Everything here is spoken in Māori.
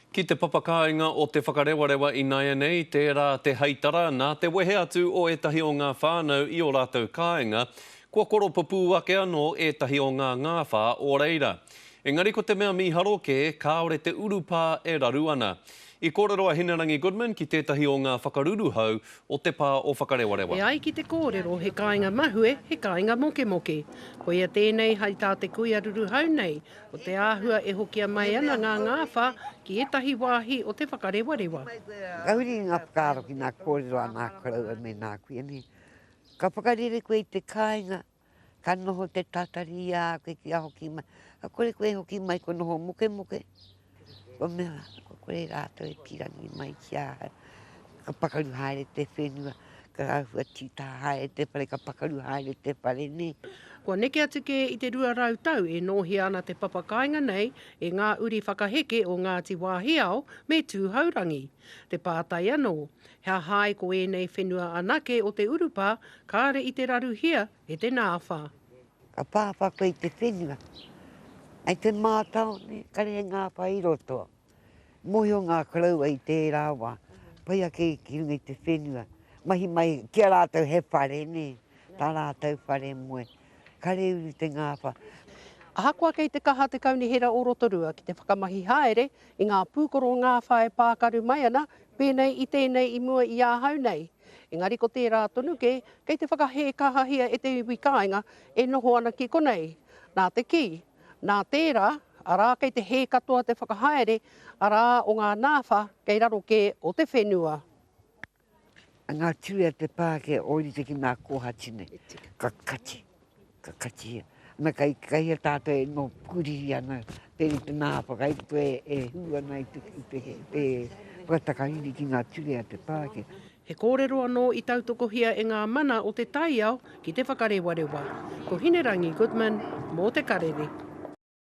Ki te papakāinga o Te Whakarewarewa ināianei tērā te heitara nā te wehe atu o ētahi o ngā whānau i ō rātou kāinga, kua koropupū ake anō ētahi o ngā ngāwhā o reira. Engari ko te mea mīharo kē, kāore te urupā e raru ana. I kōrero a Hinerangi Goodman ki tētahi o ngā whakaruruhau o te pā o Whakarewarewa. E ai ki te kōrero he kāinga mahue, he kāinga mokemoke. Koia tēnei hai tā te kuia ruruhau nei, Ko te āhua e hokia mai ana ngā ngāwhā ki ētahi wāhi o Te Whakarewarewa. Whakahuri i ngā whakaaro ki ngā kōrero a ngā koroua me ngā kuini. Ka whakarere koe i te kāinga, ka noho te tātari i a koe kia hoki mai. Ka kore koe e hoki mai kua noho mokemoke. Kua mea, kua kore rātou e pīrangi mai ki a hau. Ka pakaru haere te whenua, ka āhua tītā haere te whare, ka pakaru haere te whare, nē. Kua neke atu kē i te rua rau tau e nōhia ana te papa kāinga nei e ngā uri whakaheke o Ngāti Wāhiao me Tūhourangi. Te pātai anō, he aha ai ko ēnei whenua anake o te urupā kāre i te raruhia E te Nāwha. Ka pāwha koe i te whenua. Ai te mātaone, kare he ngāwha i roto. Mōhio ngā koroua i tērā wā, pai ake ki runga i te whenua. Mahi mai ki a rātou he whare, nē, tā rātou whare moe. Kare uru te ngāwha. Ahakoa kei te kaha te Kaunihera o Rotorua ki te whakamahi haere i ngā pūkoro ngāwha e pākaru mai ana Pēnei i tēnei i mua i ahau nei, engari ko tērā tonu kē, kei te whakahē kahahia e te iwi kāinga e noho ana ki konei. Nā te kī, nā tērā, arā kei te hē katoa te whakahaere, arā o ngā nāwha kei raro kē o te whenua. Ngā ture a te pākē ōrite ki ngā kōhati nei, ka kati. Ka katia. Na kai kai a tato e no puri ana te i te na pa kai to e hu ana i te i te te pa ta kai ni ki nga tue a te pake. He kōrero anō i tautokohia e ngā mana o te taiao ki Te Whakarewarewa. Ko Hinerangi Goodman mō Te Karere.